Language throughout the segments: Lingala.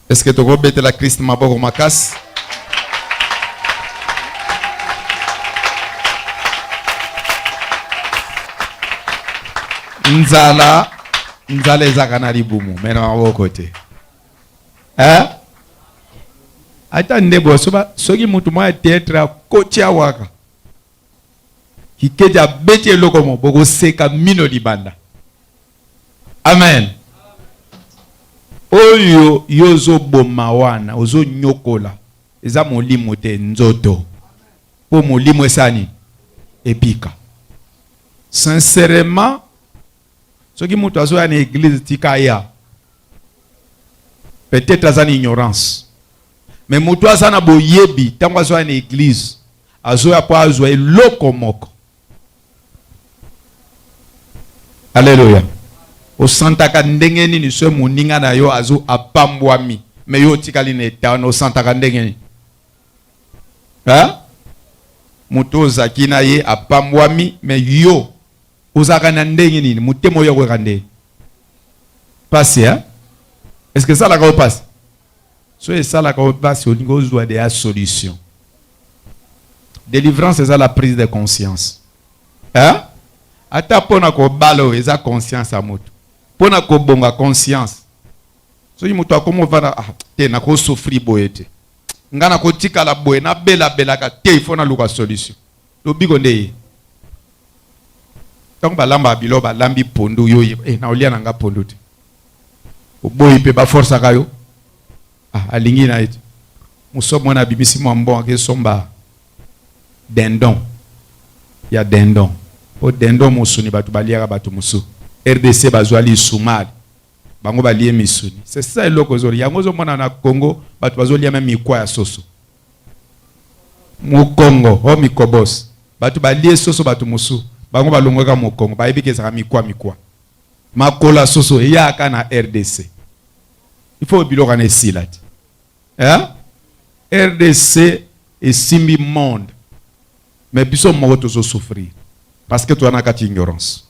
Est-ce que toko betela Christ maboko makasi? Nzala nzala ezaka na libumu mais na maboko te. Eh? Ata ndebo soki mutu mwa theatre akotia waka Kikedi abeti eloko mo bokoseka mino libanda. Amen. Oyo yo ozoboma wana ozonyokola eza molimo te, nzoto. Mpo molimo esani ebika. Sincèrement, soki moto azoya na eglise tika aya. Peut-être aza na ignorance. Mais moto aza na boyebi ntango azoya na eglise Azoya po azwa eloko moko. Aleluya. Osantaka ndenge nini soki moninga na yo azo apambwami me yo otikali na etat wana? Osantaka ndenge nini? Ha? Moto ozaki na ye apambwami me yo ozalaka na ndenge nini? Motema oyo akoyaka ndenge pasi ha? Eske esalaka yo pasi? So esalaka yo pasi olingi ozua deja solution. Delivrance eza la prise de conscience. Hein? Ata pona kobala oyo eza conscience ya moto. Pona kobonga conscience. Soki moto akomi ovanda ah, te nakosufri boye te. Nga nakotikala boye nabelabelaka te ifo naluka solution. lobiko nde ye ntango balambaka bilo balambi pondu yo oyeba eh, na olia na nga pondu te oboyi mpe baforsaka yo ah, alingi na ye te moso mwana abimisi mwa mbongo akesomba dendon ya dendon mpo dendon mosuni bato baliaka bato mosusu rdc bazwa lisumali bango balie misuni c'est ça eloko ezoli yango ozomona na congo bato bazolia me mikwa ya soso Mokongo o mikobos bato balie soso bato mosusu bango balongwaka mokongo bayebi ke ezalaka mikwa mikwa makolo ya soso eyaka na rdc il faut biloko wana esila ti eh? rdc esimbi monde mais biso moko tozo souffrir parce que toza na kati ignorance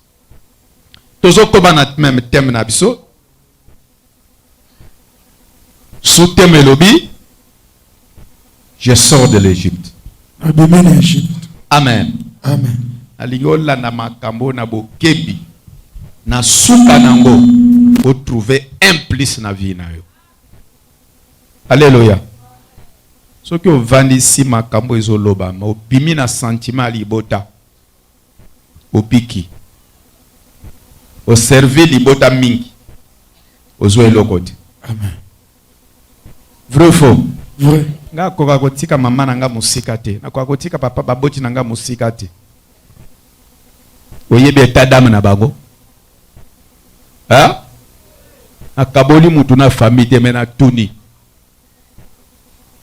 tozo koba na meme teme na biso Sous thème elobi Je sors de l'Égypte. Nabimi na Egypte. Amen. Amen. Nalingi olanda makambo na bokebi. Na suka nango o trouver un plus na vie na yo. Alléluia. Soki ovandisi makambo ezolobama, obimi na sentiment ya libota. bopiki o servir libota mingi ozua eloko te amen vrai faux vrai nga akoka kotika mama na nga mosika te nakoka kotika papa baboti na nga mosika te oyebi eta dame na bango nakaboli mutu na famille te me natuni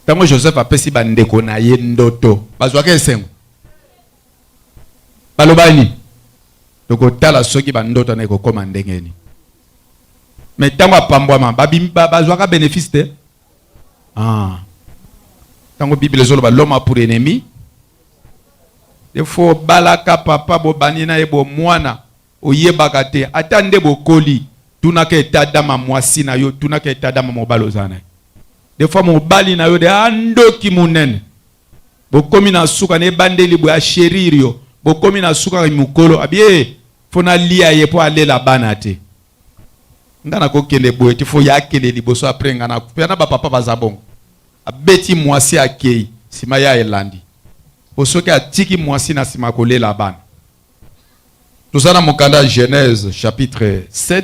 ntango joseph apesi bandeko na ye ndoto bazwaka esengo balobani tokotala soki bandoto na ekokoma ndenge nini me ntango apambwama bazwaka benefice te ah. ntango biblia ezoloba loma pour ennemi defo obalaka papa bobani na ye bomwana oyebaka te ata nde bokoli tunaka etadama mwasi na yo tunaka etadama mobali oza na ye defo mobali na yo de andoki ah, monene bokomi na suka na ebandeli boya sheririo bokomi na suka mokolo abie fo nalia ye mpo alela bana te nga nakokende boye te fo ye akende liboso apres nga nakufa na bapapa baza bongo abeti mwasi akei nsima ya elandi po soki atiki mwasi na nsima kolela bana toza na mokanda genèse chapitre 7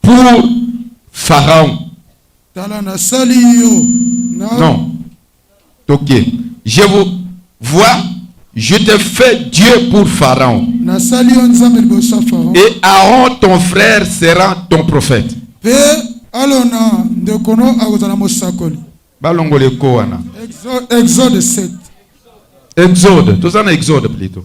Pour Pharaon. Tala nasali yo. Non. Ok. Je vous vois, je te fais Dieu pour Pharaon. Nasali yo Nzambe liboso Pharaon. Et Aaron ton frère sera ton prophète. Pe alona ndeko no akozala mosakoli. Balongole ko wana. Exode 7. Exode, tozana Exode plutôt.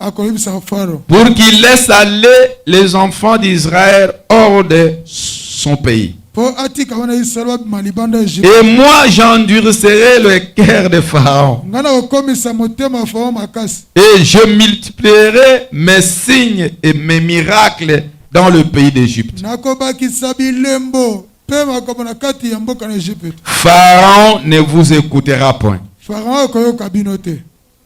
akoyebisa faro pour qu'il laisse aller les enfants d'israël hors de son pays po atika bana ya israele babima libanda ya egypte et moi j'endurcerai le cœur de pharaon ngai nakokomisa motema ya faro makasi et je multiplierai mes signes et mes miracles dans le pays d'égypte nakobakisa bilembo mpe makambo na kati ya mboka na egypte pharaon ne vous écoutera point faro akoyoka bino te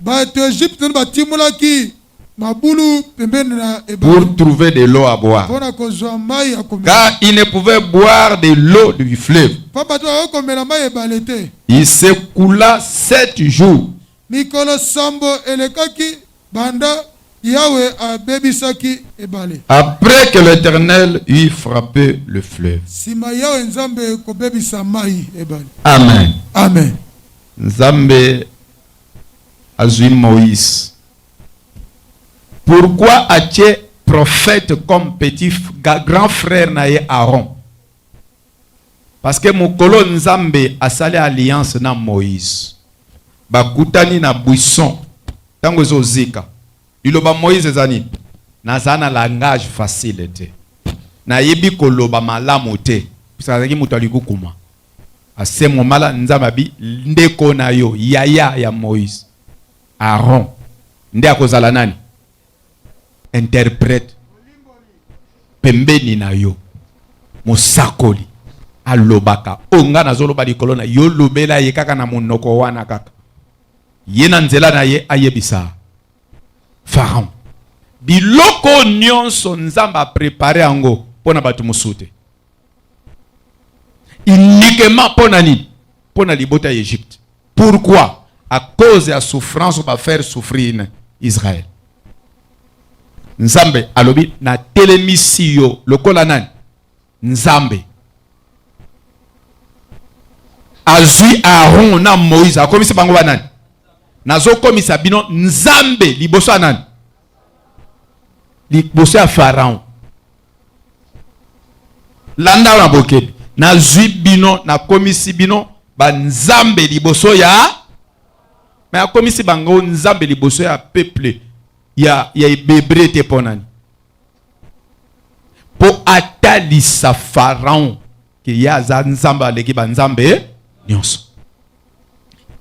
Bato ya Egypte nde batimolaki mabulu pembeni na ebale pour trouver de l'eau à boire, mpo na kozwa mai ya komela, car ils ne pouvaient boire de l'eau du fleuve. mpamba te bakoki komela mai ya ebale te. Il s'écoula sept jours Mikolo sambo elekaki banda Yawe abebisaki ebale, après que l'Éternel eut frappé le fleuve. nsima Yawe Nzambe kobebisa mai ya ebale. Amen. Amen. Nzambe azui Moïse. Pourquoi atie prophète comme petit grand frère na ye Aaron? Parce que mokolo Nzambe asali alliance na Moïse. Bakutani na buisson. Tango ezo zika. Liloba Moïse ezani naza na langage facile te. Nayebi koloba malamu te. Parce que azalaki moto ya likukuma. asemomala nzambe abi ndeko na yo yaya ya moïse aron nde akozala nani interprète pembeni na yo mosakoli alobaka oyo ngai nazoloba likolo na yo lobela ye kaka na monoko wana kaka ye na nzela na ye ayebisa faraon biloko nyonso nzambe aprepare yango mpo na bato mosusu te uniquement mpo na nini mpo na libota ya egypte pourquoi à cause ya souffrance oyo bafaire souffrir na israel nzambe alobi natelemisi yo lokola nani nzambe azwi aaron na moïse akomisi bango banani nazokomisa bino nzambe liboso ya nani liboso ya pharaon Landa na bokebi. Nazwi bino, nakomisi bino banzambe liboso ya me akomisi bango nzambe liboso ya peuple ya, ya ebebre te mpo nani? Mpo atalisa Faraon ke ye aza nzambe aleki banzambe nyonso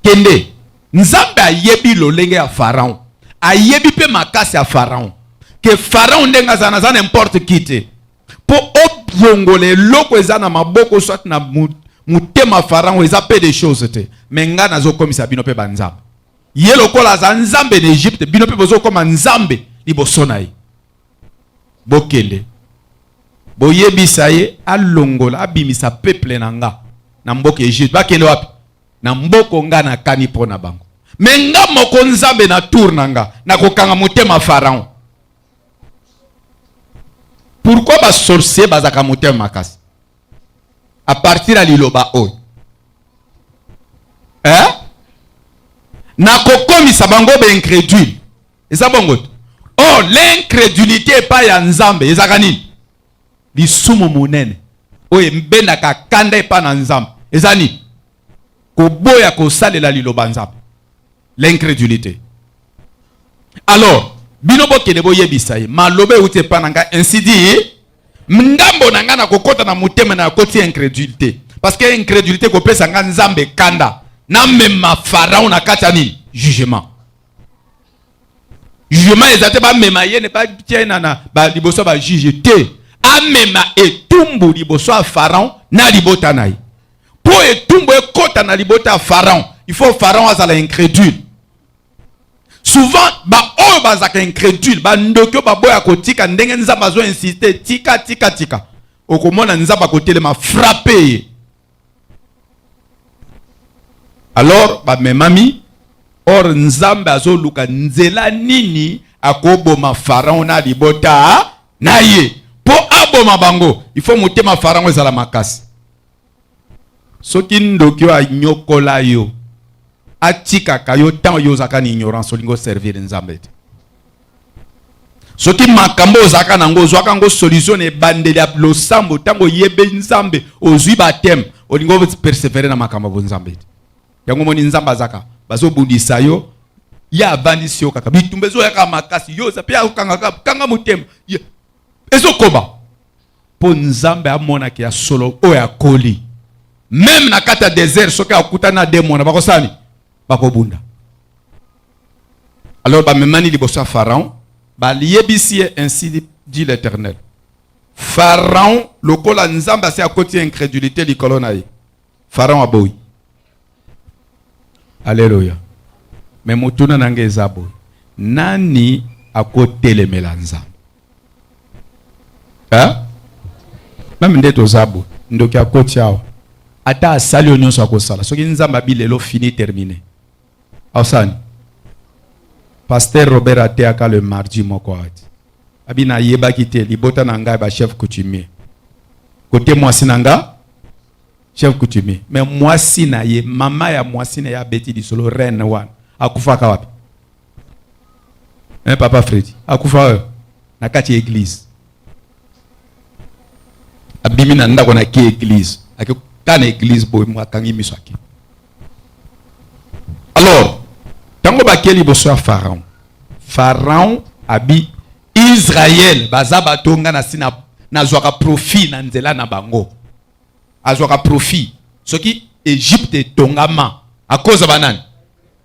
kende nzambe ayebi lolenge ya faraon ayebi mpe makasi ya faraon ke faraon ndenge aza naza na importe ki te mpo obongola eloko eza na maboko soit na motema faraon eza mpe de choses te me ngai nazokomisa bino mpe banzambe ye lokola aza nzambe na egypte bino mpe bozokoma nzambe liboso na ye Bokende, boyebisa ye alongola, abimisa peuple na nga na mboka Egypte. Bakende wapi? Na mboko nga nakani mpo na bango. Me nga moko Nzambe na tour na nga nakokanga motema Pharaon. Pourquoi ba sorcier bazaka motema makasi? A partir ya liloba oyo eh? nakokomisa bango ba incrédule eza bongo te or l'incrédulité epai ya nzambe ezalaka nini lisumu monene oyo ebendaka kanda epai na nzambe eza nini koboya kosalela liloba nzambe l'incrédulité alors bino bokende boyebisa ye maloba euti epai na ngai ainsi dit ngambo na ngai nakokɔta na motema na yakoti incrédulité parce que incrédulité kopesa ngai nzambe kanda namema farao na kati ya nini jugement jugement eza te bamema ye ne batia ye na liboso ya bajuge te amema etumbu liboso ya pharaon na libota na ye mpo etumbu ekɔta na libota ya pharaon il faut pharaon azala incrédule souvent baoyo bazalaka incrédule bandoki oyo baboya kotika ndenge nzambe azo insiste tika tika tika okomona nzambe akotelema frappe ye alors bamemami or nzambe azoluka nzela nini akoboma farao na libota na ye mpo aboma bango ifo motema farao ezala makasi soki ndoki oyo anyokola yo atikaka yo ntango yo ozalaka na ignorance olingi oservire nzambe te soki makambo ozalaka nango ozwaka yango solution na ebandeli ya losambo ntango oyebi nzambe ozwi bateme olingi opersevere na makambo ya bonzambe te yango omoni nzambe azaka bazobundisa yo ye avandisi yo kaka bitumba ezoyaka makasi yo oza mpe akokangaka kanga motema ezokoba mpo nzambe amona ke ya solo oyo akoli meme na kati ya desert soki akutani na demona bakosala nini bakobunda alors bamemani liboso ya pharaon baliyebisi ye ainsi dit l'éternel pharaon lokola nzambe asi akoti incrédulité likolo na ye Pharaon aboyi. Alléluia. Mais motuna na ngai eza boye. Nani akotelemela Nzambe? Hein? Meme nde toza boye. Ndoki akoti awa. Ata asali yo nyonso akosala. Soki Nzambe abi lelo fini terminé. Ausani. Pasteur Robert ateyaka le mardi moko ati. Abi nayebaki te libota na ngai ba chef coutumier. Kote mwasi na ngai chef coutumier mais mwasi na ye mama ya mwasi na ye abeti lisolo reine wana akufaka wapi eh, papa fredi akufa oyo na kati ya eglize abimi na ndako na ki eglize akeka na eglize boye mo akangi miso ake alors ntango bakei liboso ya pharaon pharaon abi Israël baza bato nga nasi nazwaka profit na nzela na bango, azwaka profit soki Egypte etongama akoza banani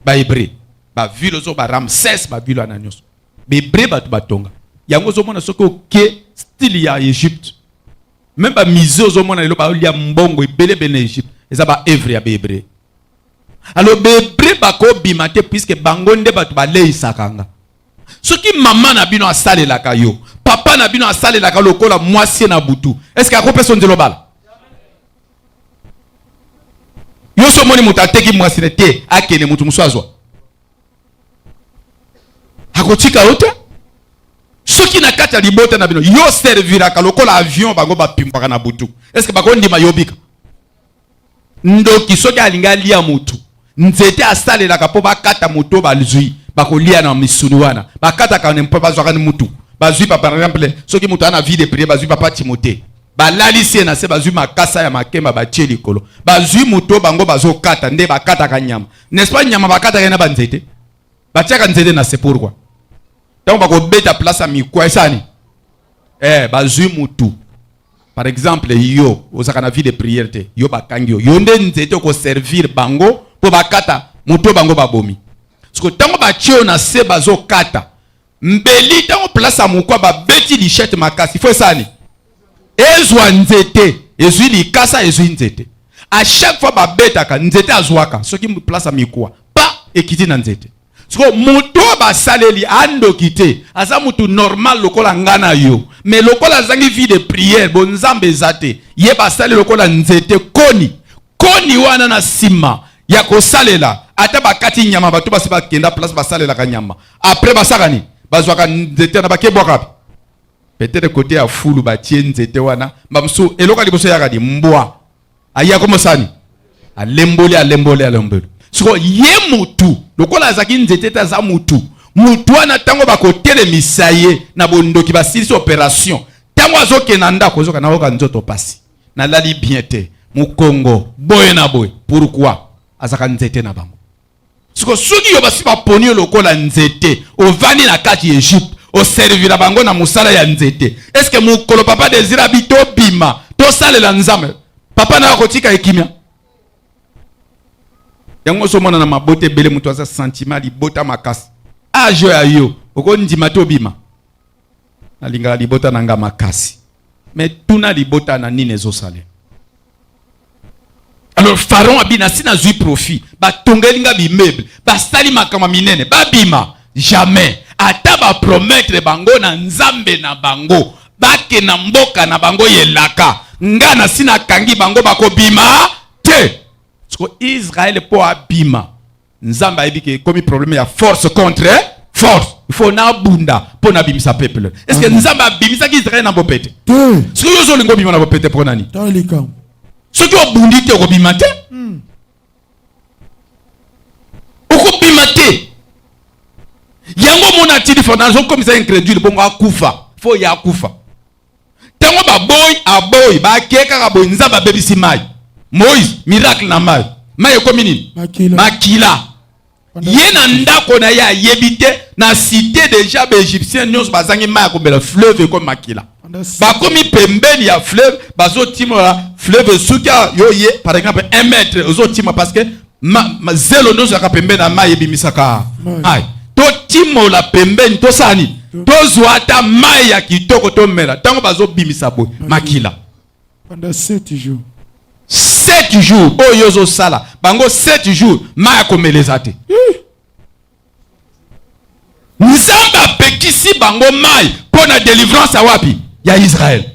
bahebre bavile ozo ba ramses bavile wana nyonso bahebre bato batonga yango ozomona soki oke style ya egypte meme bamise ozomona lelo baolia mbongo ebelebele na egypte eza baevre ya bahebre alors bahebre bakobima te puiske bango nde bato baleisaka nga soki mama na bino asalelaka yo papa na bino asalelaka lokola mwasi na butu eske akopesa nzela obala yo so omoni moto ateki mwasi na te akende moto mosusu azwa akotika yo te soki na kati ya libota na bino yo serviraka lokola avion bango bapimbwaka na butu eske bakondima yobika Ndoki soki alingi alia motu nzete asalelaka mpo bakata moto bazwi bakolia na misuni wana bakataka mpo bazwaka ni mutu bazwi pa par exemple soki moto ana vie de priere bazwi papa timote balalisi ye na se bazwi makasa ya makemba batie likolo bazwi moto bango bazokata nde bakataka nyama n'est-ce pas nyama bakataka ye na banzete batiaka nzete na se pourkua ntango bakobeta place ya mikwa esani eh, bazwi mutu Par exemple, yo ozaka na vie de prière te, yo bakangi yo. Yo nde nzete ko servir bango po bakata moto bango babomi. Siko tango ba tio na se bazo kata. Mbeli tango place ya mokwa ba beti lichette makasi. Faut esani. Ezwa nzete, ezwi likasa, ezwi nzete. À chaque fois ba betaka nzete azwaka soki place ya mikuwa. Pa ekiti na nzete. siko moto oyo basaleli andoki te aza moto normal lokola nga na yo me lokola azangi vie de priere bonzambe eza te ye basali lokola nzete koni koni wana na nsima ya kosalela ata bakati nyama bato basi bakenda place basalelaka nyama apres basaka nini bazwaka nzete wana bakebwaka peut-être kote ya fulu batie nzete wana bamosusu eloko ya liboso yaka di mbwa aye akoma sani alemboli alemboli alemboli siko ye mutu lokola azalaki nzete te aza mutu mutu wana ntango bakotelemisa ye na bondoki basilisi operation ntango azokende na ndako ozoka nayoka nzoto mpasi nalali bien te mokongo boye na boye pourkui azalaka nzete na bango siko soki yo basi baponi yo lokola nzete ovandi na kati ya egypte oservira bango na mosala ya nzete eske mokolo papa desire abi tobima tosalela nzambe papa nayo akotika ekimia yango oso omona na mabota ebele moto aza sentiment libota makasi age ya yo okondima te obima nalingaka libota na nga makasi me tuna libota na nini ezosale alors pharaon abina si nazwi profit batongeli nga bimeuble basali makambo minene babima jamais ata bapromettre bango na nzambe na bango bake na mboka na bango yelaka nga na si nakangi bango bakobima te siko israele mpo abima Nzambe ayebi ke komi problème ya force contre force. Il faut na bunda po na bimisa peuple. Est-ce que Nzambe abimisa ki Israël na bopete? Te. Ce que yozo lingo bima na bopete po nani? Tala likambo. Ce que obundi te okobima te. Hmm. Okobima te. Yango mona ti difference okomisa incrédule bongo akufa. Faut ya akufa. ntango baboyi aboyi bake kaka boye nzambe abebisi mai moïse miracle na mai mai ekomi nini makila ye na ndako na ye ayebi te na cité deja baegyptien nyonso bazangi mai ya komela fleuve ekomi makila bakomi pembeni ya fleuve bazotimola fleuve esuki yo ye par exemple un mètre ozotima parce que ma, ma zelo nioso yaka pembeni ya mai ebimisaka mai totimola pembeni tosala nini tozwa ata mai ya kitoko tomela ntango bazobimisa boye makila pendant 7 jours 7 jours oyo ozosala bango 7 jours mai akomeleza te nzambe apekisi bango mai mpo na delivrance ya wapi ya israele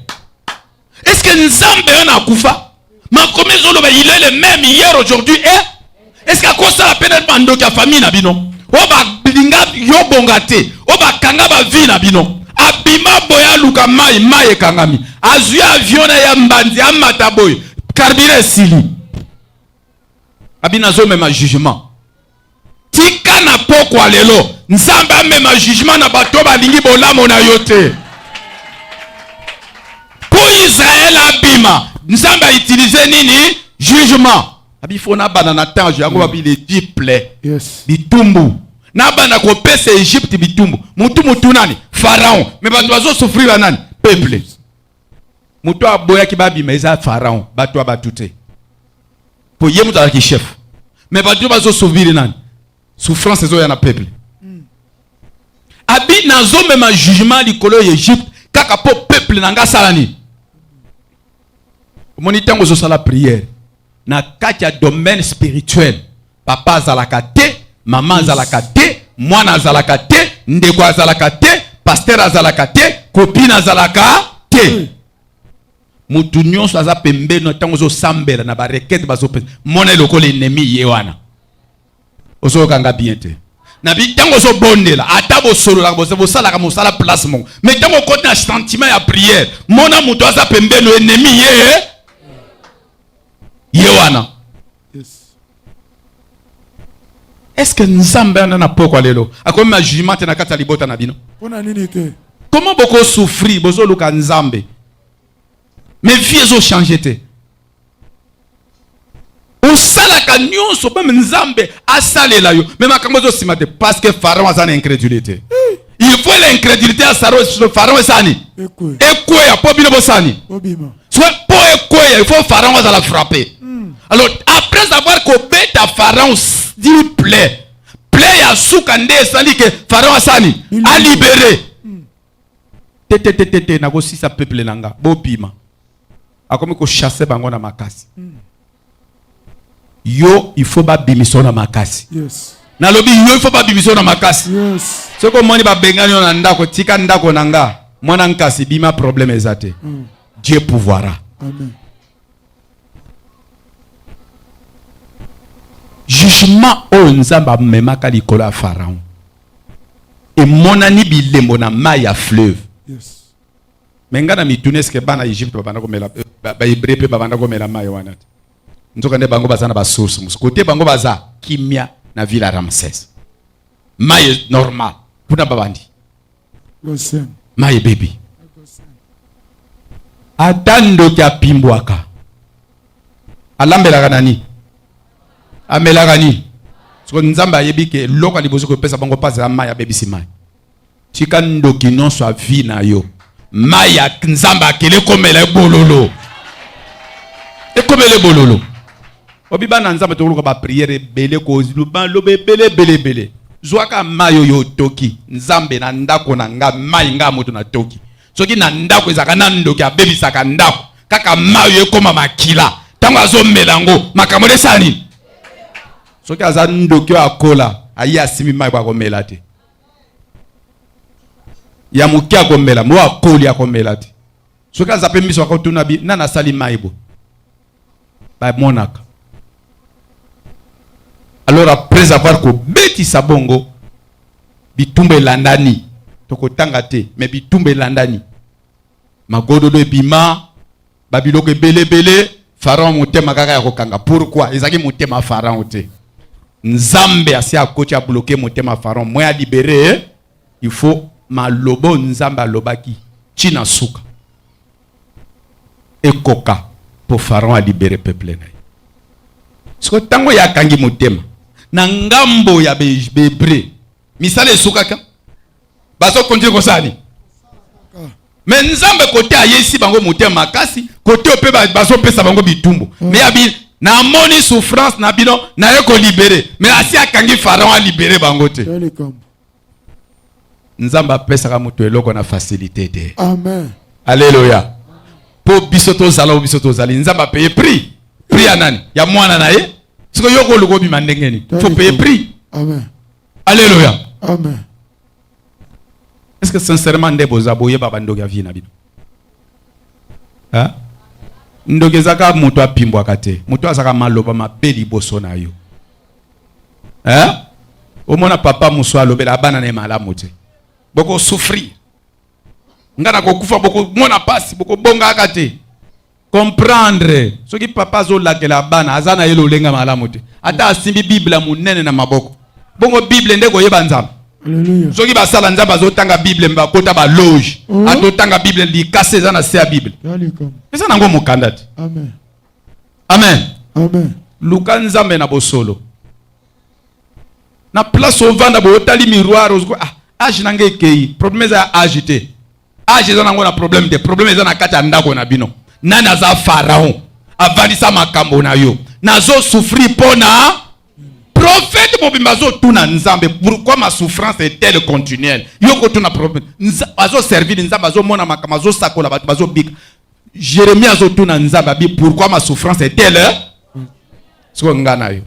eske nzambe wana akufa makomi ezoloba il est le même hier aujourd'hui e eske akosala mpe na bandoki ya famille na bino oyo balinga yo bonga te oyo bakanga bavie na bino abima boye aluka mai mai ekangami azwi avion na ya mbanzi amata boye karbira esili abina azomema jugement tika na pokwa lelo nzambe amema jugement na bato balingi bolamo na yo te mpo israele abima nzambe autilize nini jugement abifo nabanda na tange yango mm. babi le diple yes. bitumbu nabanda kopesa egypte bitumbu motu motu nani pharaon me bato bazosufrira nani peuple moto oyo aboyaki babima eza pharaon bato ya bato te mpo ye moto azalaki chef me bato oyo bazosovire nani souffrance ezoya na peuple hmm. abi nazomema jugement likolo ya egypte kaka mpo peuple na ngai asala nini omoni ntango ozosala priere na kati ya domaine spirituel papa azalaka te mama azalaka te mwana azalaka te ndeko azalaka te pasteur azalaka te kopine azalaka te hmm. motu nyonso aza pembeni ntango ozosambela na barekete bazopesa mona elokoli enemi ye wana ozoyoka nga bien te na bi ntango ozobondela ata bosololaka bosalaka mosala place moko me ntango okoti na sentiment ya priere mona moto aza pembeni enemi ye ye wana estce nzambe anda na pokwa lelo akomi ma jugement te na kati ya libota na bino mpona nini te koma bokosouffrir bozoluka nzambe me vie ezochange te osalaka nyonso meme nzambe asalela yo me makambo ezosima te parce que pharaon aza na incrédulité il faut l'incrédulité ya pharaon esani ekweya mpo bino bosani soki mpo ekweya il faut pharaon azala frappe hmm. alors après avoir kobeta pharaon dil play play ya suka nde esali ke pharaon asani alibere tete tete te nako sisa peuple na nga bobima akomi ko chasser bango na makasi mm. yo il faut babimisa na makasi yes. nalobi yo il faut babimisa na makasi yes. soki omoni babengani yo na ndako tika ndako na nga mwana nkasi bima problème eza te mm. dieu pouvoira Amen. jugement oyo nzambe amemaka likolo ya pharaon emonani bilembo na mai ya fleuve me ngai na mituna eske bana egypte babanda komela bahebre mpe babanda komela mai wana te nzoka nde bango baza na basource mosusu kote bango baza kimia na ville ya ramses mai normal kuna babandi mai ebebi ata ndoki apimbwaka alambelaka nani amelaka nini soko nzambe ayebi ke eloko liboso kopesa bango mpasi ya mai abebisi mai tika ndoki nyonso avi na yo mai ya nzambe akele ekomela ebololo ekomela ebololo obi bana nzambe tokoluka bapriere ebele koluba loba ebele ebele ebele zwaka mai oyo otoki nzambe na ndako na nga mai nga moto natoki soki na ndako ezalaka na ndoki abebisaka ndako kaka mayo ekoma makila ntango azomela yango makambo esala nini soki aza ndoki oyo akola aye asimbi mai po akomela te ya moke akomela mo akoli akomela te soki aza mpe miso akotuna bi nani asali mai bo bamonaka alors après avoir kobetisa bongo bitumba elandani tokotanga te me bitumba elandani magododo ebima babiloko ebelebele farao motema kaka ya kokanga pourkui ezalaki motema farao te nzambe asi akoti abloke motema farao mwe alibere il faut malobo nzambe alobaki ntina suka ekoka po Pharaon a libere peuple na ye. Siko tango ya kangi motema na ngambo ya Bebre, misala esukaka bazo continue kosala nini? me nzambe kote ayesi bango motema makasi kote ope bazopesa bango bitumbu mm. me abi namoni souffrance na bino naye kolibere me asi akangi pharaon alibere bango te nzambe apesaka moto eloko na facilité te amen aleluya mpo biso tozala oyo biso tozali nzambe apeye prix prix ya nani ya mwana na ye siko yo koluka obima ndenge nini fo peye prix amen aleluya amen est ce que sincèrement nde boza boyeba bandoki ya vie na bino ndoki ezaka moto apimbwaka te moto azaka maloba mabe liboso na yo eh? omona papa mosu alobela bana na ye malamu te bokosouffrir ngai nakokufa bokomona mpasi bokobongaka te comprendre soki papa azolakela bana aza na ye lolenga malamu te ata asimbi bible ya monene na maboko bongo bible nde koyeba nzambe soki basala nzambe azotanga bible bakota baloge oh. atotanga bible likasi eza na se ya bible eza nango mokanda te amen amen luka nzambe na bosolo na place ovanda boye otali miroir ozoko ah, age na ngai ekei problème eza ya age te age eza nango na problème te problème eza na kati ya ndako na bino nani aza pharaon avandisa makambo na yo nazosufri mpo na profete mobimba azotuna nzambe pourquoi ma souffrance est telle continuelle yo kotuna profete azoservile nzambe azomona makambo azosakola bato bazobika Jeremie azotuna Nzambe abi pourquoi ma souffrance est telle sikoyo nga na yo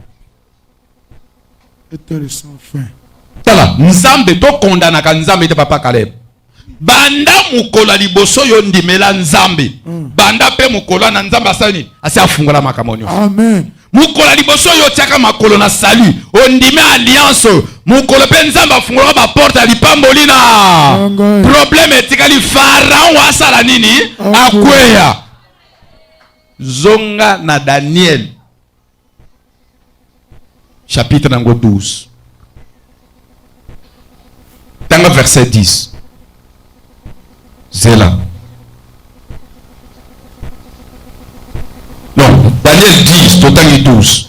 tala Nzambe tokondanaka Nzambe te papa Caleb banda mokolo ya liboso yo ndimela Nzambe hmm. banda mpe mokolo na Nzambe asali nini asi afungola makambo nyonso mokolo ya liboso oyo otyaka makolo na salut ondimi alliance oyo mokolo mpe nzambe afungolaka baporte ya lipamboli na probleme etikali faraon asala nini akweya zonga na daniel chapitre nango 12 tanga verset 10 zela non daniel 10 totangi 12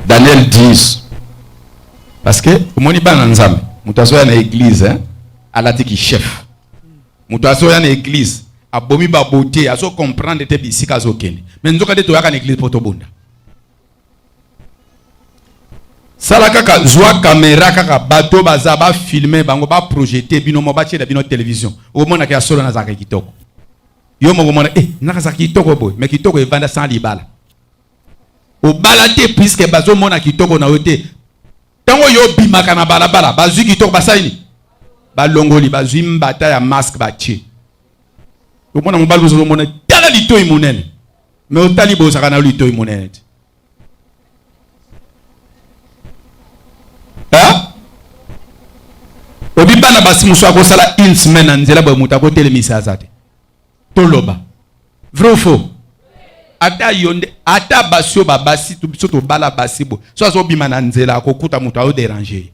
daniel 10 parce que omoni bana nzambe moto azoya na église hein? alati ki chef moto azoya na église abomi babote azo comprendre te bisika azokende me nzoka nde toyaka na église mpo tobunda sala kaka zwa kamera kaka bato baza bafilme bango baprojete bino mo batiela bino televizio omonaka ya solo nazalaka kitoko yo moko omona e eh, nakazalaka kitoko boye me kitoko evanda sans libala obala te puiske bazomona kitoko na yo te ntango yo obimaka na balabala bazwi kitoko basali nini balongoli bazwi mbata ya maske batie omona mobali ozozomona tala litoi monene me otali bozaka na litoi monene te obi bana basi mosusu akosala une semaine na nzela boye moto akotelemisa aza te toloba vrai ou faux ata yo nde ata basi oyo babasi biso tobala basi boye so azobima na nzela akokuta moto aoderange ye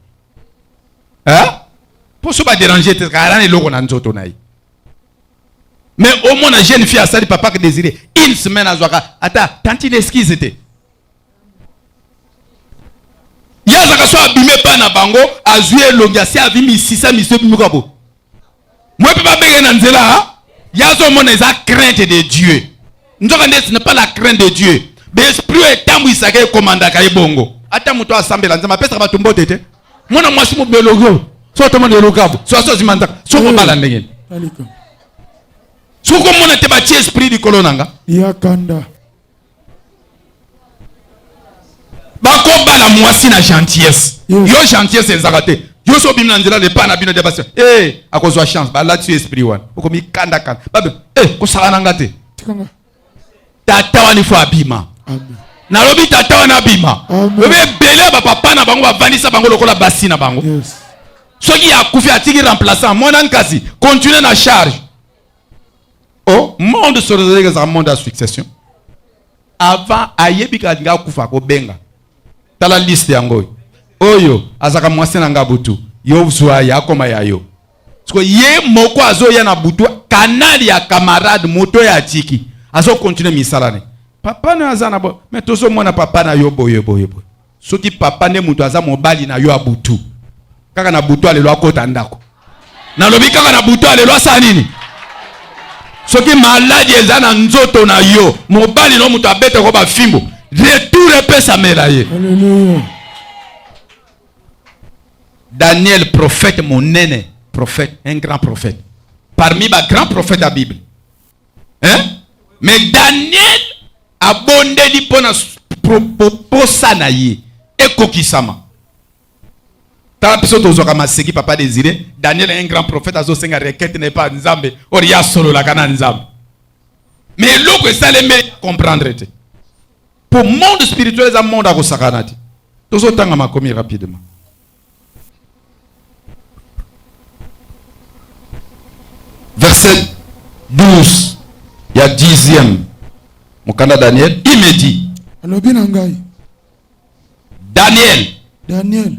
mpo so baderange te kala na eloko na nzoto na ye mais au moins jeune fille asali papa que désiré une semaine azwaka ata tantine esquise te ye azaka so abime epai na bango azwi elongi asi avi misisa miso ebimika bo mwe mpe babenge na nzela ye azomona eza crainte de dieu nzoka nde ce n'est pas la crainte de dieu baesprit oyo etambwisaka ekomandaka ye bongo ata moto asambela nzambe apesaka bato mbote te mwana mwasi mobele oyo so atomona elokabo so aso azima nzaka soko eh, bala ndenge soki omona te batie esprit likolo na nga yakanda bakobala mwasi na gentillesse yo gentillesse ezaka te yo so obimi na nzela lepa na bino de basi e eh, akozwa chance balatisi yo esprit wana okomikandakanda babe e eh, kosala na nga te tata wana ifo abima nalobi tata wana abima lobi ebele ya bapapa na bango bavandisa bango lokola basi na bango soki akufi atiki remplaçant mwana nkasi continue na charge o oh, monde sorezeleka ezaka monde ya succession avant ayebi kaka lingi akufa akobenga tala liste yango oyo azaka mwasi na nga butu yo zwa ye akoma ya yo siko ye moko azoya na butu kanali ya camarade moto ya atiki azokontinue misala ne papa na aza na bo me tozomona papa na yo boye boye boye soki papa nde moto aza mobali na yo ya butu kaka na butu alelo akota ndako nalobi kaka na butu alelo asala nini soki maladi eza na nzoto na yo mobali no moto abetako bafimbo retour epesamela ye Hallelujah. Daniel prophète monene, prophète, un grand prophète. Parmi ba grands prophètes ya Bible. Hein? Mais Daniel abondeli mpo na posa na ye ekokisama. Tala biso tozwaka maseki papa Desire, Daniel un grand prophète azosenga requête na epa Nzambe, or ya solo la kana Nzambe. Mais eloko esalemi comprendre te. Pour monde spirituel eza monde akosakana te. Tozotanga makomi rapidement. Verset 12 ya 10e mokanda Daniel, il me dit. Alobi na ngai. Daniel. Daniel.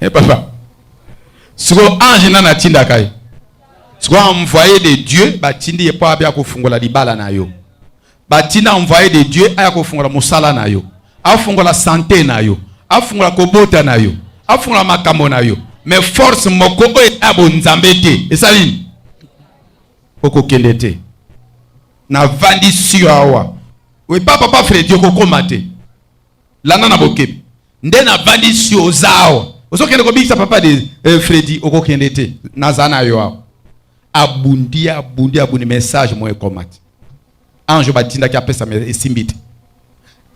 Eh papa. Siko ange nana tinda kai. Siko envoyé de Dieu ba tindi ye pa bia kofungola libala na yo. Ba tinda envoyé de Dieu aya kofungola musala na yo. Afungola santé na yo. Afungola kobota na yo. Afungola makambo na yo. Mais force moko oyo ya bonzambe te. Esali nini? okokende te navandi sio awa oye pa papa fredi okokoma te landa na bokebi nde na valisi oza awa ozokende kobikisa papa de eh, fredi okokende te naza na yo awa abundi abundi abundi message mo ekomati ange batindaki apesa esimbi te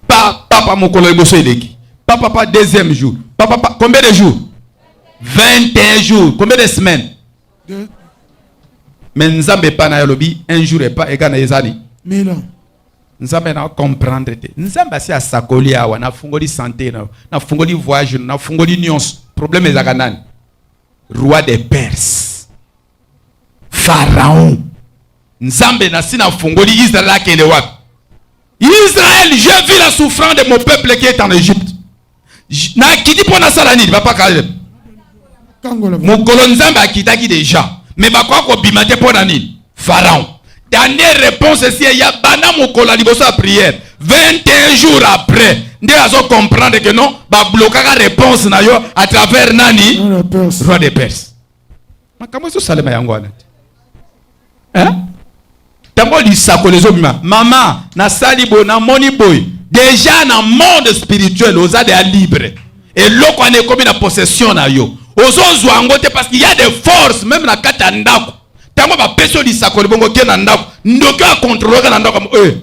pa papa mokolo liboso eleki pa papa deuxième jour pa papa combien de jours 21 jours combien de semaines me nzambe epai na yo alobi un jour epa egai na ye ezali nzambe na comprendre te nzambe asi asakoli awa nafungoli sante na yo nafungoli voyage nafungoli nyonso probleme ezalaka nani roi de perse pharaon nzambe nasi nafungoli israel akende wapi israel je vis la souffrance de mon peuple qui est en égypte nakiti mpo nasala nini papa kaleb mokolo nzambe akitaki deja me bakoya kobima te mpo na nini pharaon danie réponse esi eya banda mokolo ya liboso ya priere 21 jours après nde azo comprendre que non bablokaka réponse na yo à travers nani roi de perse makambo ezosalema yango wana te eh? ntango lisakoli ezobima mama nasali boye namoni boye deja na monde spirituel oza deya libre eloko wana ekomi na possession na yo ozozwa yango te parce qu'il y a des forces meme na kati ya ndako ntango bapesi yo lisakoli bongo ke na ndako ndoki oyo akontrolaka na ndako oyo eh,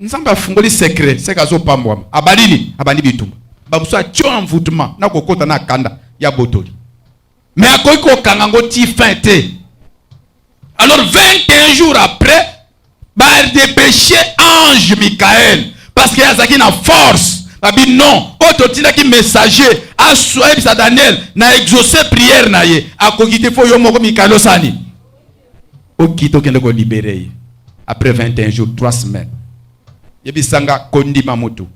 nzambe afungoli secret seke azopambwama abalini abandi bitumba bamosusu atio envoutement na kokota na kanda ya botoli mais akoki kokanga yango ti fin te alors 21 jours après badepeshe ange mikael parce que azalaki na force babi non oyo totindaki messager ayebisa daniel na exauce prière na ye akoki te fo yo moko mikael osani oki tokende kolibere ye après 21 jours 3 semaines yebisanga kondima motu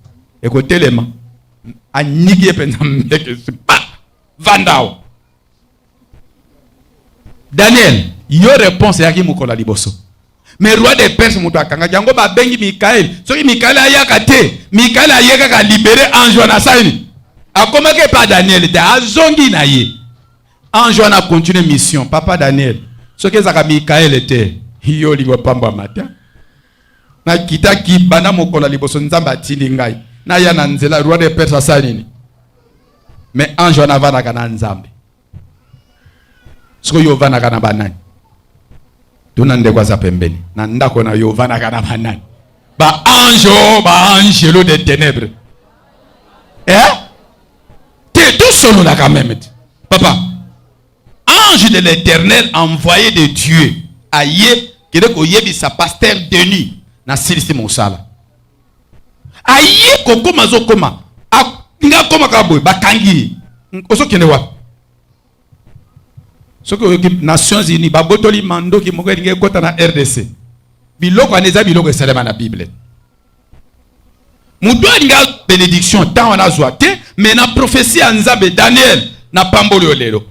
ekotelema aniki ye mpenza mbeke vanda awa daniel yo reponse eyaki mokolo ya liboso me roi de perse moto akangaki yango babengi mikaele soki mikaele ayaka te mikaele aye kaka libere ange wana asalini akomaki epa daniel te azongi na ye ange wana akontinue mission papa daniel soki ezalaka mikaele te yo olingo pambwa mata Nakitaki banda mokolo liboso Nzambe atindi ngai naya na nzela roi de Perse asali nini? Mais ange wana avandaka na Nzambe. Siko yo ovandaka na banani? Tuna ndeko aza pembeni na ndako na yo ovandaka na banani? Ba ange oh, ba angelo de ténèbres eh? te tosololaka meme te papa Ange de l'Eternel envoyé de Dieu aye kende koyebisa pasteur Denis nasilisi mosala aye kokoma azokoma nga akoma kaka boye bakangi ye ozokende wapi soki oyoki nations unis babotoli mandoki moko elingi ekota na rdc biloko wana eza biloko esalema na bible moto alinga benediction ntango wana azwa te me na profesi ya nzambe daniel na pamboli yo lelo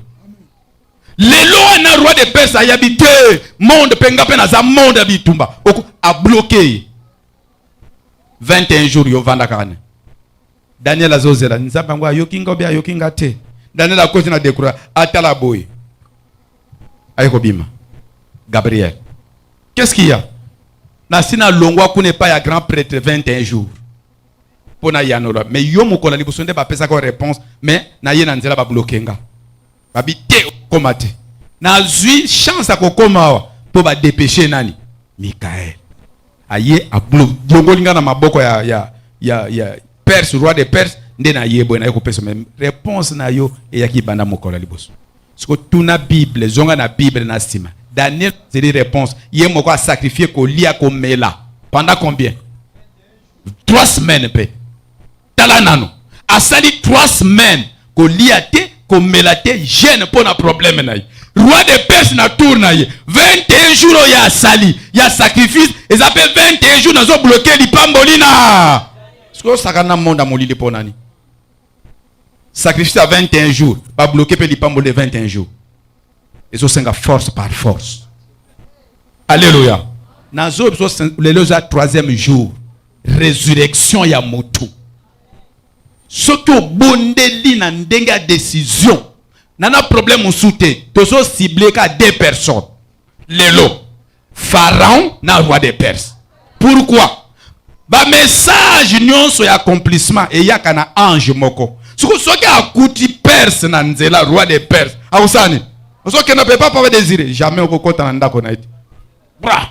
lelo wana roi de perse ayabi te monde mpe nga mpe naza monde ya bitumba abloke ye 21 jours yo vanda kaka ne Daniel azozela nzambe yango ayoki nga obe ayoki nga te. Daniel akosi na dekura atala boye aye kobima. Gabriel, qu'est-ce qu'il y a? nasi nalongwa kuna epai ya grand prêtre 21 jours mpo nayanola mais yo mokolo ya liboso nde bapesaka réponse mais naye na nzela babloke nga babi te okoma te nazwi chance ya kokoma awa mpo badepeshe nani mikael aye ablongoli ngai na maboko ya, ya, ya, ya perse roi de perse nde naye boye naye kopesa me réponse na yo eyaki banda mokolo ya liboso siko tuna bible zonga na bible na nsima daniel azeli réponse ye moko asakrifie kolia komela pendant combien trois semaines mpe tala nano asali 3 semaines kolia te komela te gene mpo na probleme na ye roi de perse na tour na ye 21 jour oyo asali ya sacrifice eza mpe 21 jour nazobloke lipamboli na soki osakana na monde ya molili mpo nani sacrifice ya 21 jour babloke mpe lipamboli 21 jour ezosenga force par force alleluya nazo lelo eza troisième jour résurrection ya motu soki obondeli na ndenge ya décision nana problème mosusu te tozo cible ka deux personnes lelo Pharaon na roi de Perse. Pourquoi? Ba message nyonso ya accomplissement eyaka na ange moko. Siko soki akuti Perse na nzela roi de Perse, akosala nini? Ozokenda pe papa désiré, jamais okokota na ndako na ye. Bra.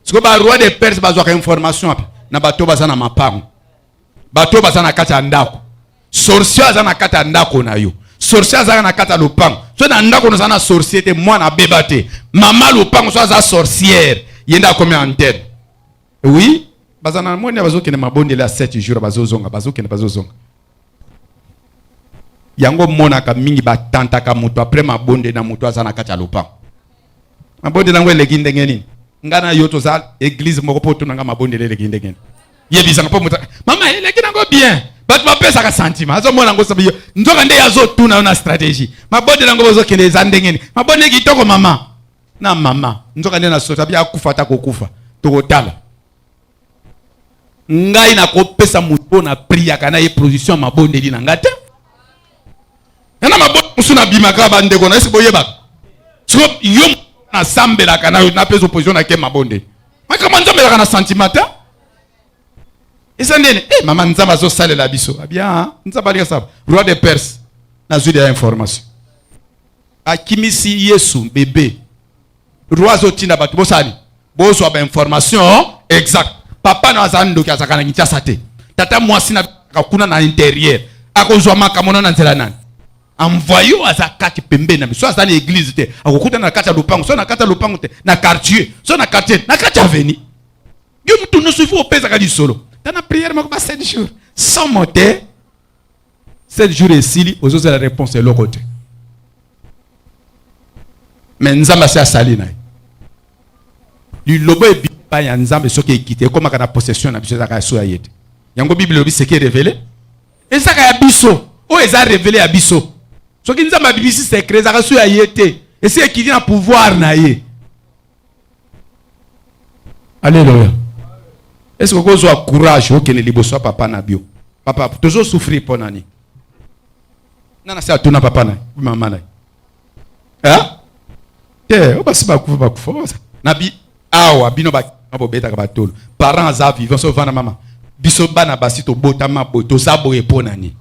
Siko ba roi de Perse bazwaka information wapi? Na bato baza na mapango. bato baza na kati ya ndako sorcier aza na kati ya ndako na yo sorcier azalaka na kati ya lopango so na ndako naza na sorcier te mwana abeba te mama lopango so aza sorciere ye nde akomi antene oui baza na moni bazokende mabondeli ya 7 jour bazozonga bazokende bazozonga yango monaka mingi batantaka moto apres mabonde na moto aza na kati ya lopango mabondeli yango eleki ndenge nini ngai na yo toza eglize moko mpo otonanga mabondeli eleki ndenge nini yebisaka mpo moto mama eleki nango bien bato bapesaka santima azomona yango sabi yo nzoka nde azotuna yo na stratégie mabode nango bozokende eza ndenge nini mabode kitoko mama na mama nzoka nde nasota bi akufa ata kokufa tokotala ngai nakopesa moto oyo na priaka na ye production ya mabondeli na ngai te yana mabota mosusu nabimaka bandeko na esi boyebaka so yo nasambelaka nayo napesa opposition na ke mabonde makambo nzambe elaka na sentiment te eza ndene e eh, mama nzambe azosalela biso abia ah nzambe alinga saba roi de perse nazwi deya information akimisi yesu bebe roi azotinda bato bosali bozwa bainformation exact papa na azala ndoki azalaka na kinshasa te tata mwasi na kuna na interieur akozwa makambo na na nzela nani envoyo aza kati pembeni na biso aza na eglize te akokutana na kati ya lopango so na kati ya lopango te na quartier so na quartier na kati ya aveni yo motu nyonso ifo opesaka lisolo tana priere moko ba 7 jours somo te 7 jours esili ozozela réponse eloko te me nzambe asi asali na ye liloba ebipa ya nzambe soki ekite ekomaka na possession na biso ezaka ya so ya ye te yango bible elobi seke revele ezaka ya biso oyo eza revele ya biso soki nzambe abimisi sekre ezaka so ya ye te esi ekiti na pouvoir na ye Alléluia. Est-ce que vous avez courage au Kenya liboso ya papa na bio? Papa, toujours souffrir pour nani? Nana c'est à ton papa na, maman na. Hein? Eh, on va se battre, on va se battre. Nabi, awa, bino ba, on va beta kabatolo. Parents aza vivants, so vana maman. Biso bana basi to botama boto, ça boye pour nani?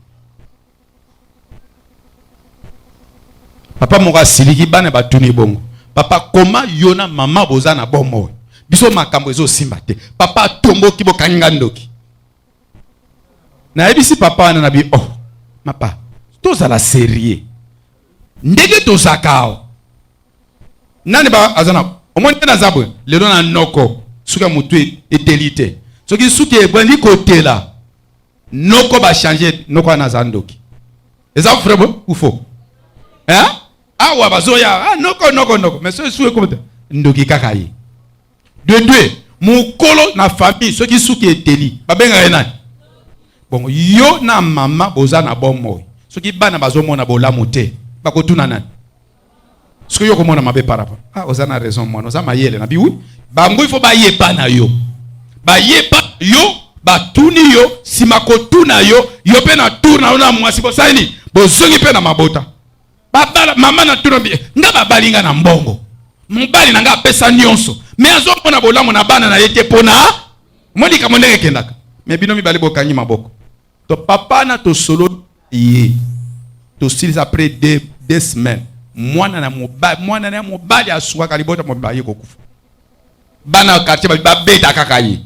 papa moko asiliki bana batuni bongo papa koma yo na mama boza na bomoi biso makambo ezosimba te papa atomboki bokangi nga ndoki nayebisi papa wana na bi oh mapa tozala serieux ndenge tozaka awa nani ba aza na omoni te naza boye lelo na noko suki ya motu e, eteli te soki suki ebandi kotela Noko ba changer noko ana za ndoki. Eza vrai bon ou faux? Hein? Awa bazoya ah, noko noko noko mais soki suki komata ndoki kaka ye. De deux, mukolo na famille soki suki eteli babengaka ye nani? Bon, yo na mama boza na bomoi soki bana bazomona bolamu te bakotuna nani? soki yo komona mabe par rapport ah oza na raison mwana oza mayele na biwi bango ifo bayepa na yo bayepa yo batuni yo nsima kotuna yo yo mpe na tour na yo na mwasi bosali nini bozongi mpe na mabota babala mama na tuna eh, nga babali nga na mbongo mobali na nga apesa nyonso me azomona bolamu na bana na ye te mpo na moni likambo ndenge ekendaka me bino mibale bokangi maboko to papa na tosololi ye tosilisa apres de, de semaine mwana na mobali mwana na ya mobali asukaka libota mobali ye kokufa bana ya quartier babi babeta kaka ye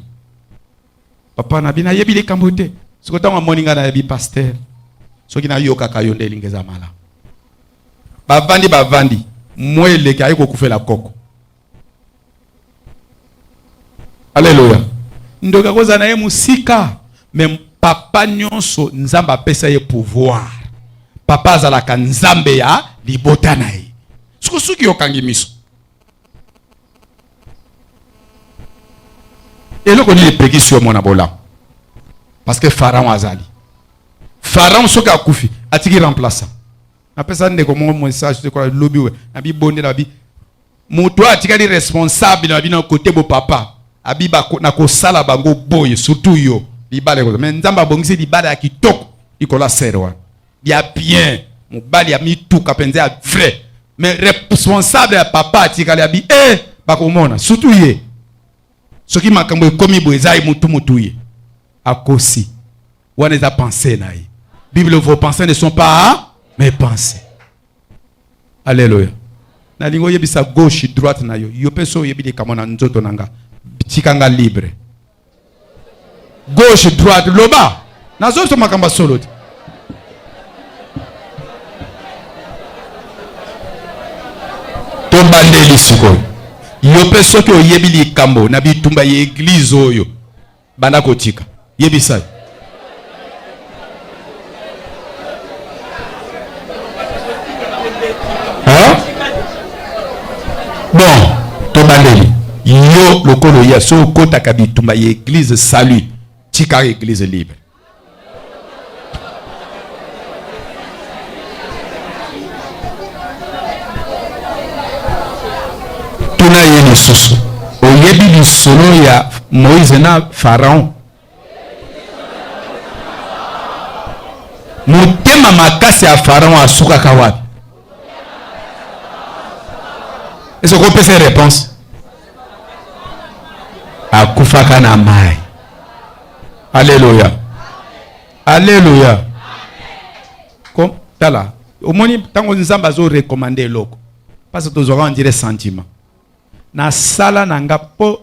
papa na bino ayebi likambo te soki ntango amoni ngai nayebi paster soki nayokaka yo nde elingi eza malamu bavandi bavandi mwa eleki aye kokufela koko Alléluia. Ndoka koza na ye musika mais papa nyonso Nzambe apesa ye pouvoir. Papa azalaka Nzambe ya libota na ye. Suku suki okangi miso. Eloko nini epekisi yo mwana bolamu? Parce que Pharaon azali. Pharaon soki akufi atiki remplaçant. Napesa ndeko moko message lobi we na bibondela bi Moto oyo atikali responsable na bino kote bo papa abiba na kosala bango boye surtout yo libala ekoza mais nzambe abongisi libala ya kitoko likolo ya sere wana ya bien mobali ya mituka mpenza ya vrai mais responsable ya papa atikali abi e eh, bakomona surtout ye soki makambo ekomi boye eza ye mutu mutu ye akosi wana eza pensee na ye bible vos pensées ne sont pas mes pensées alleluya nalingi oyebisa gauche droite na yo yo mpe so oyebi likambo na nzoto na nga tika nga libre gauche droite loba nazobisa makambo ya solo te tobandeli sikoyo yo mpe soki oyebi likambo na bitumba ya eglize oyo banda kotika yebisa Hein? Bon, tobandeli yo lokolo ya so okotaka bitumba ya eglise salut tika eglise libre tuna ye lisusu oyebi lisolo ya moïse na pharaon motema makasi ya faraon asukaka wapi ese okopesa reponse akufaka na mai aleluya aleluya tala omoni ntango nzambe azorekomande eloko mpasi tozwaka ondire sentiment nasala na nga mpo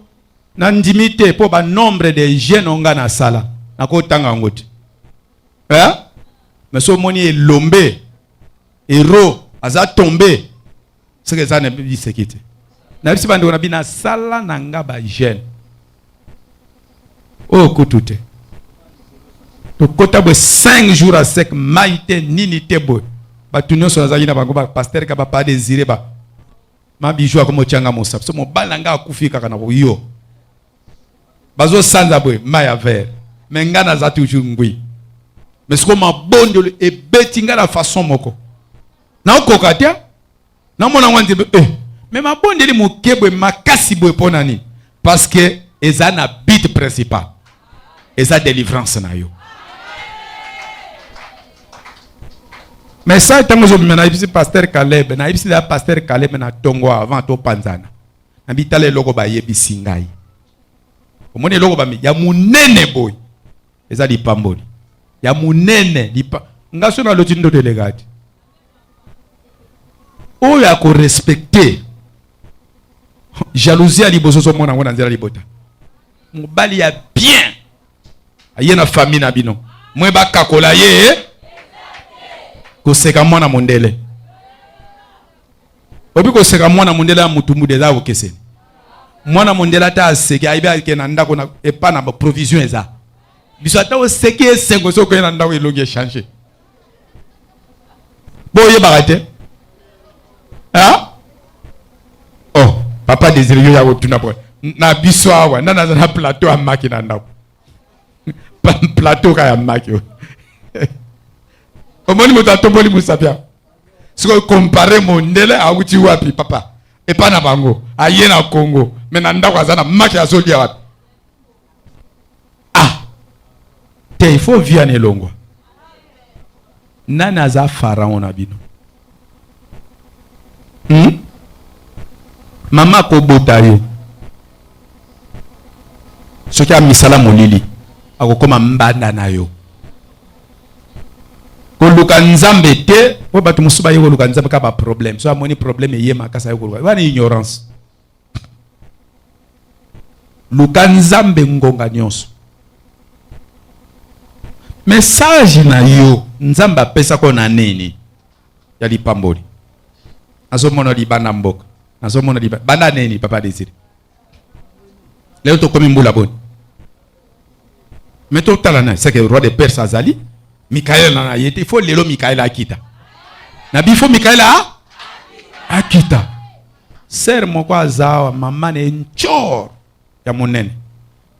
Na ndimi te po ba nombre de jeunes onga na sala na ko tanga yango te eh mais so moni elombe ero aza tombe seke eza na biseki te na bisi bandeko na bina sala na nga ba jeune oyo oh, kutu te tokota boye 5 jours a sec mai te nini te boye bato nyonso nazalaki na bango bapaster ka bapa desire ba ma bijou akomi otyanga mosapi so mobali na ngai akufi kaka na koyo bazosanza boye mai ya vere me ngai naza toujours ngwi me sikoyo mabondelo ebeti ngai na façon moko naokoka te namona yango nzembe e eh, me mabondeli moke boye makasi boye mpo na nini parce que eza na but principal eza delivrance na yo message ntango ozobima nayebisi paster caleb nayebisi ya paster caleb na ntongo avant topanzana na bitala eloko bayebisi ngai omoni eloko bami ya monene boye eza lipamboli ya monene lipa nga so naloti ndoto elekati oyo ako respecter jalousie ya liboso ozomona yango na nzela libota mobali ya bien aye na famille na bino mwe bakakola ye eh? koseka mwana mondele obi koseka mwana mondele ya mutumbude eza kokeseni mwana mondele ata aseki ayebi ake na ndako epa na baprovision eza biso ata oseki esengo soki okei na ndako elongi echange boyebaka te hein? oh papa désiré yo ya kotuna po na biso awa nani aza na plateau ya maki na ndako plateau ka ya maki oyo omoni moto atomboli mosapi yango sikoyo kompare mondele awuti wapi papa epai na bango aye na kongo me na ndako aza na maki azolya wapi ah te ifo via na elongwa nani aza farao na bino hmm? mama akobota yo soki amisala molili akokoma mbanda na yo koluka nzambe te po bato mosusu baye koluka nzambe kaka baproblème so amoni problème eye makasi aye koluka wana ignorance luka nzambe ngonga nyonso mesaje na yo nzambe apesako na nini ya lipamboli nazomona libanda mboka nazomona libanda banda nini papa desire leo tokomi mbula boni Mais to tala na c'est que roi de Perse azali Michael na ye te faut lelo Michael akita. Na bifo Michael a akita. Sœur moko azawa mama ne nchor ya monene.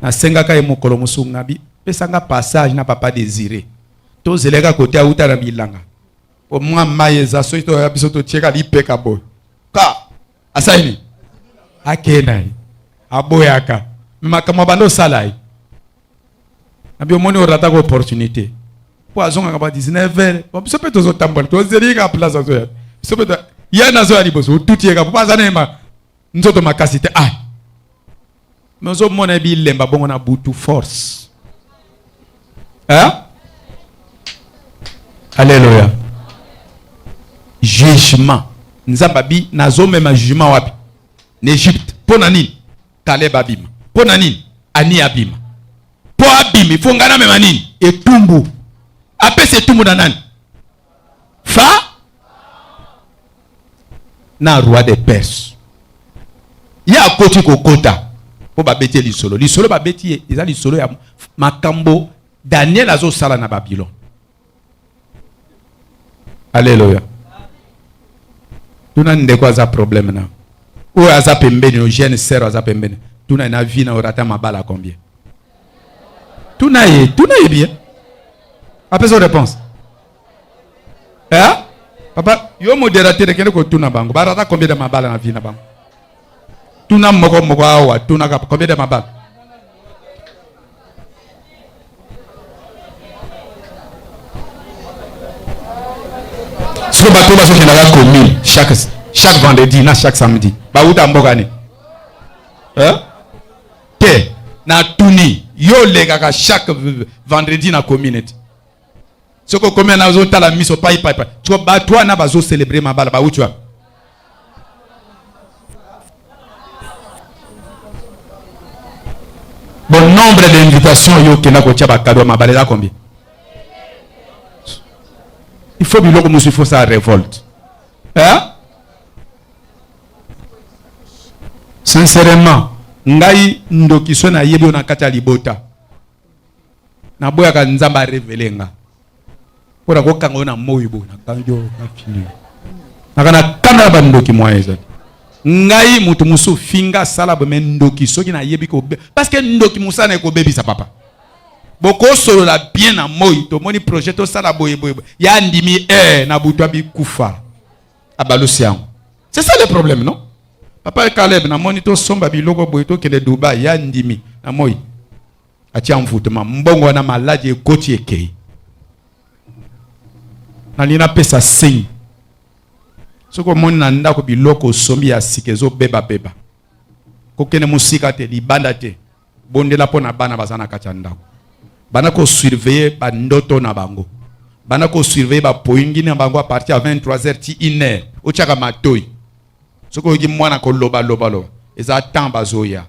Na sengaka ye mokolo musunga bi pesa nga passage na papa désiré. To zeleka kote auta na bilanga. O mwa maye za soki to ya biso to tieka lipeka boy. Ka asali nini akei na ye aboyaka me makambo abanda osala ye nabi omoni orataka opportunité mpo azongaka ba 19 heure biso mpe tozotambola tozeli kaka place azoya biso mpe ye nazoya liboso otuti ye kaka mpo aza na ye nzoto makasi te ah nozomona bilemba bongo na butu force hein? Alléluia. jugement nzambe abi nazomema jugement wapi na egypte mpo na nini kaleba abima mpo na nini ani abima mpo abimi mpo ngai namema nini etumbu apesa etumbu na nani fa na roi de perse ye akoti kokota mpo babeti ye lisolo lisolo babeti ye eza lisolo ya makambo daniel azosala na babilone aleluya tuna ndeko aza problème na oyo aza pembeni yo jeune sœur aza pembeni tuna na vie na orata mabala combien tuna ye tuna ye bien apesa yo réponse eh? papa yo modérateur ekende kotuna bango barata combien de mabala na vie na bango tuna moko moko awa tunaka combien de mabala siko bato bazokendaka commune chaque chaque vendredi na chaque samedi bawuta mboka nini eh? te na tuni yo olekaka chaque vendredi na community soki okomi ana ozotala miso pai pai pai tiko bato wana bazocelebre mabala bauti wapi bon nombre d'invitation yo okenda kotya bakado ya mabala eza combien il faut biloko mosusu il faut sa révolte hein? Sincèrement, ngai ndoki so na yebi yo na kati ya libota. Na boyaka Nzambe a révéler nga. Mpo na kokanga yo na moyi bo na kangi yo na fini. Naka na kanda na ba ndoki moyen ezali. Ngai mutu musu finga sala bo mais ndoki soki na yebi ko parce que ndoki musana ekobebisa papa. bokosolola bien na moi tomoni projet tosala boye boye ya ndimi e na butu abikufa abalusi yango c'est ça le problème non papa caleb namoni tosomba biloko boye tokende dubai ya ndimi na moi atia envoutema mbongo wana maladi ekoti ekei nalingi napesa signe soki omoni na ndako biloko osombi ya sika ezobebabeba kokende mosika te libanda te bondela mpo na bana baza na kati ya ndako bana kosurveille bandoto na bango bana kosurveille bapoingi na bango aparti ya 23h ti 1h otyaka matoi soki oyoki mwana koloba loba loba eza temps bazoya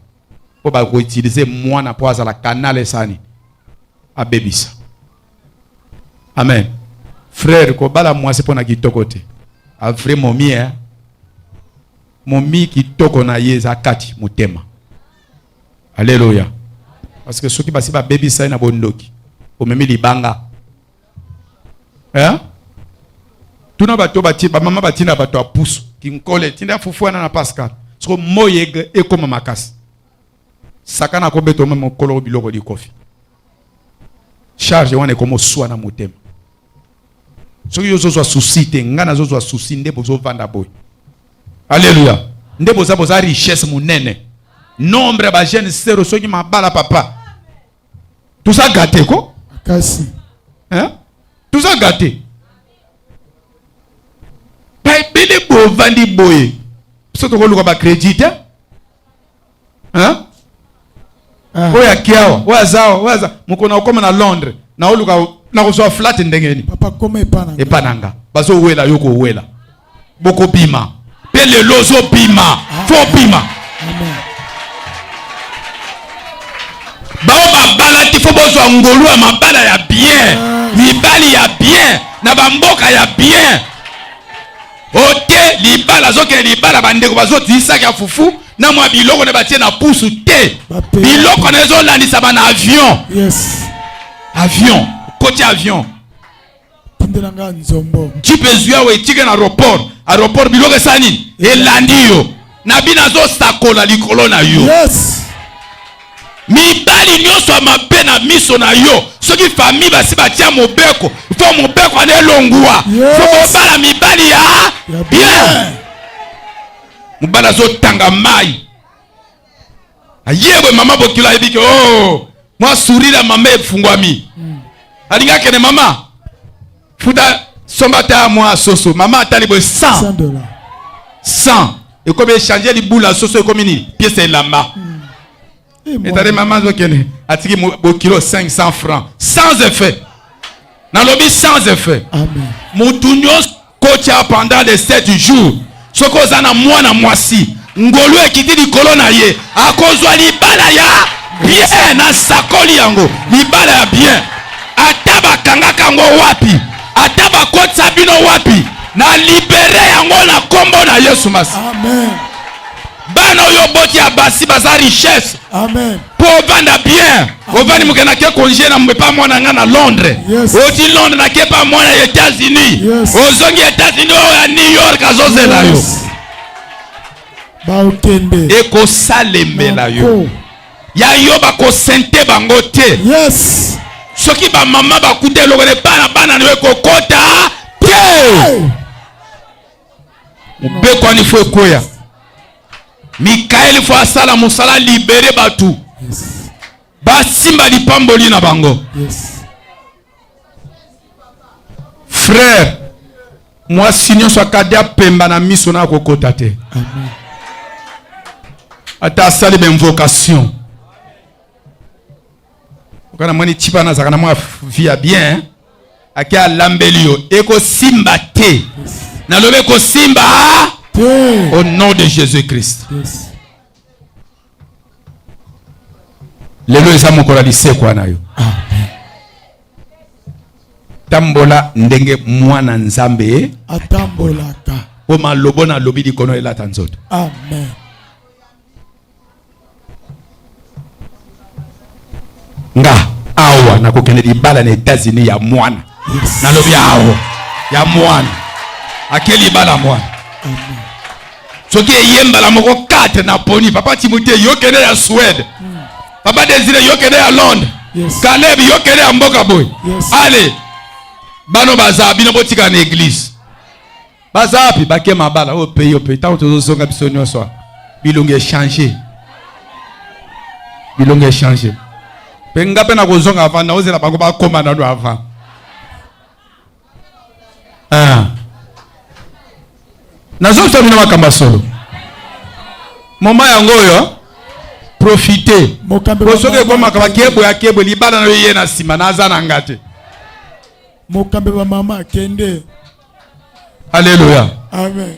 mpo bakoutilize mwana mpo azala kanal esani abebisa amen frère kobala mwasi mpo na kitoko te avrai momie momi kitoko na ye eza kati motema aleluya parce que soki basi babebisa ye na bondoki omemi libanga eh? tuna bato bati bamama batinda bato ya pusu kinkole tinda fufu wana na pascal soko moi ekoma makasi sakana akobeta omeme mokolo biloko likofi charge wana ekomoswa na motema soki yo ozozwa susi te ngai nazozwa susi nde bozovanda boye aleluya nde boza boza richesse monene nombre ya bajeune sero soki mabala papa toza gate ko kasi toza gate baebele bovandi boye biso tokoluka bacredit te hein? Ah. oyo akiawa oyo azawa oyo aza mokona okoma na londres naoluka nakozwa flate ndenge nini epa na nga bazowela yo kowela bokobima mpe lelo ozobima ah. fo bima bao babala ti fo bozwa ngolu ya mabala ya bien ah. mibali ya bien na bamboka ya bien ote libala azokende libala bandeko bazotisaki ya fufu na mwa biloko na batie na pusu te biloko na ezolandisama na avion yes. avion koti avion tindela nga nzombo jipe ezwi awa etika na aeroport aeroport biloko esala nini elandi yo na bino azosakola likolo na yo yes. mibali nyonso ya mabe na miso na yo soki fami basi batya mobeko fo mobeko wana elongwa yes. fo bobala mibali ya bien mobali azotanga mai ayebwe mama bokilo ayebi ke o oh, mwa surire ya mama efungwami mm. alingi akende mama futa somba ata mwa soso mama atali boye 100 dollars 100 ekomi echange libula soso ekomi nini piese elamba hmm. etali mama azokende atiki bokilo 500 francs sans effet nalobi sans effet motu nyonso kotya pendant les 7 jours soki oza na mwana mwasi ngolu ekiti likolo na ye akozwa libala ya bien na sakoli yango libala ya bien ata bakangaka yango wapi ata bakotisa bino wapi na libere yango na nkombo na yesu masi bana oyo oboti ya basi baza richesse mpo ovanda bien ovandi moke nake kongie na epa mwana ngai na londres oti londres nake epa mwana ya états-unis ozongi états-unis oyo ya new york azozela yo baokende ekosalemela yo ya yo bakosente bango te soki bamama bakuta eloko na epa na bana na yo ekokota te mobeko wana ifo ekweya mikaeli ifo asala mosala libere bato basimba lipamboli na bango frere mwasi nyonso akadi apemba na miso na akokota te ata asali bainvocation Oka na moni chipa na zaka na mwa via bien ake alambeli yo ekosimba te nalobi ekosimba au nom de jésus christ yes. lelo eza mokolo ya lisekwa na yo tambola ndenge mwana nzambe atambolaka mpo malobo na lobi likono elata nzoto amen nga awa nakokende libala na Etats-Unis ya mwana yes. nalobi awa ya mwana ake libala mwana soki eye mbala moko 4 naponi papa timote yokende ya Suède mm. papa Desire yokende ya Londres yes. Caleb yokende ya mboka boye yes. ale bano baza bino botika na eglise baza wapi bake mabala oyo oh, peyo mpe ntango tozozonga biso nyonso bilongi echange bilongi echange mpe nga mpe nakozonga avant naozela bango bakoma nano avant ah. nazongisa bino makambo ya solo moma yango oyo profite po soki ekomaka bakebwe akebwe libala na yo ye na nsima naza na nga te mokambi bamama akende Alléluia. Amen.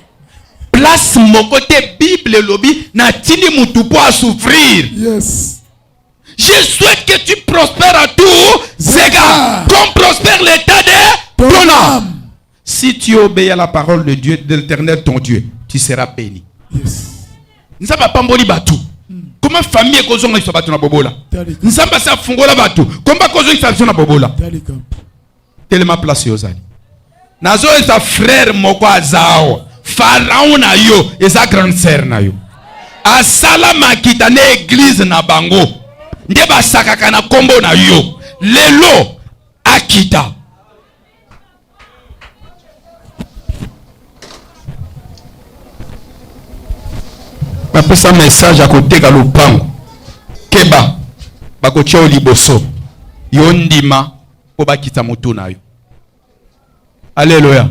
Place moko te Bible elobi na tindi mutu po a souffrir. Yes. Je souhaite que tu prospères à tous égards, comme prospère l'état de ton âme. Si tu obéis à la parole de Dieu, de l'éternel ton Dieu, tu seras béni. Yes. Nzambe apamboli bato. Hmm. Comment famille ekozongisa bato na bobola? Nzambe asi afungola bato. Comment bakozongisa biso na bobola? telema place ozali nazoyesa frere moko aza awa faraon na yo eza grande sere na yo asala makita na eglize na bango nde basakaka na nkombo na yo lelo akita napesa message ya koteka lopango keba bakotya yo liboso yo ndima mpo bakita moto na yo aleluya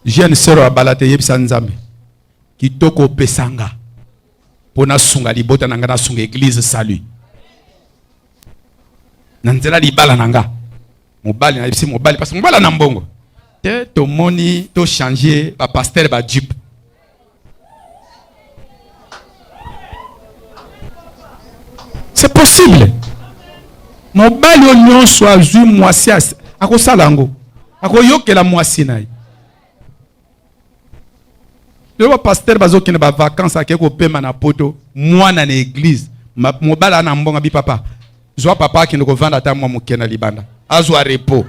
jeune sœur abala te yebisa nzambe kitoko opesa nga mpo nasunga libota na nga nasunga eglise salut na nzela libala na nga mobali nayebisi mobali parce mobali na mbongo te tomoni tochange bapaster bajupe c'est possible mobali oyo nyonso azwi mwasi akosala yango akoyokela mwasi na ye lelo bapastere bazokende bavakance ake kopema na poto mwana na eglize mobali ana mbonga bi papa zwa papa akende kovanda ata mwa moke na libanda azwa repos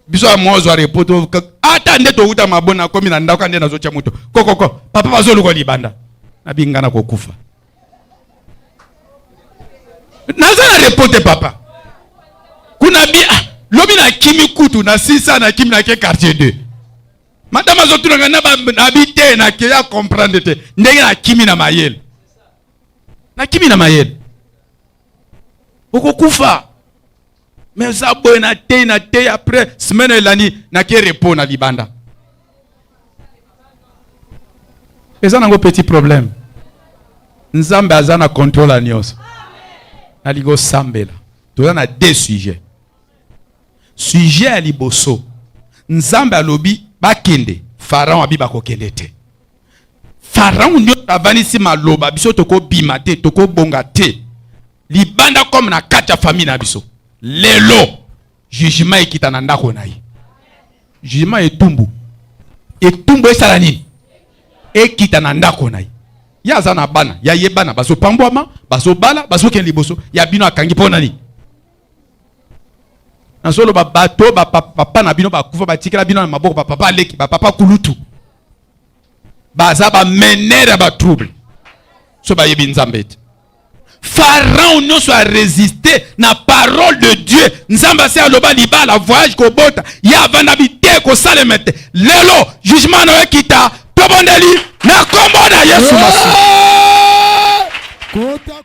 biso ya mwa ozwa repo to ata nde towuta mabo nakomi na ndako nde nazotya moto kokoko papa bazoluka libanda nabinga na kokufa naza na repo te papa kuna bi ah, lobi nakimi kutu na sisa nakimi nake quartier 2 madame azotunaka nabi te nakeya comprendre te ndenge nakimi na mayele nakimi na mayele okokufa me oza boye na tei na tei apres semaine elandi nake repo na libanda eza nango petit problème nzambe aza na contrôle ya nyonso nalingi osambela toza na deux sujet sujet ya liboso nzambe alobi bakende faraon abi bakokende te faraon nyonso avandisi maloba biso tokobima te tokobonga te libanda comme na kati ya famille na biso lelo jugement ekita na ndako na ye jugement etumbu etumbu esala nini ekita na ndako na ye ye aza na bana ya ye bana bazopambwama bazobala bazokende liboso ya bino akangi mpo na nini nazoloba bato bapapa na bino bakufa batikela bino na maboko bapapa aleki bapapa kulutu baza ba mener ya ba trouble so bayebi nzambe te farao nyonso aresiste na parole de dieu nzambe asi aloba libala voyage kobota ye avanda bite kosalema te lelo jugement na yo ekita tobondeli na nkombo na yesu masi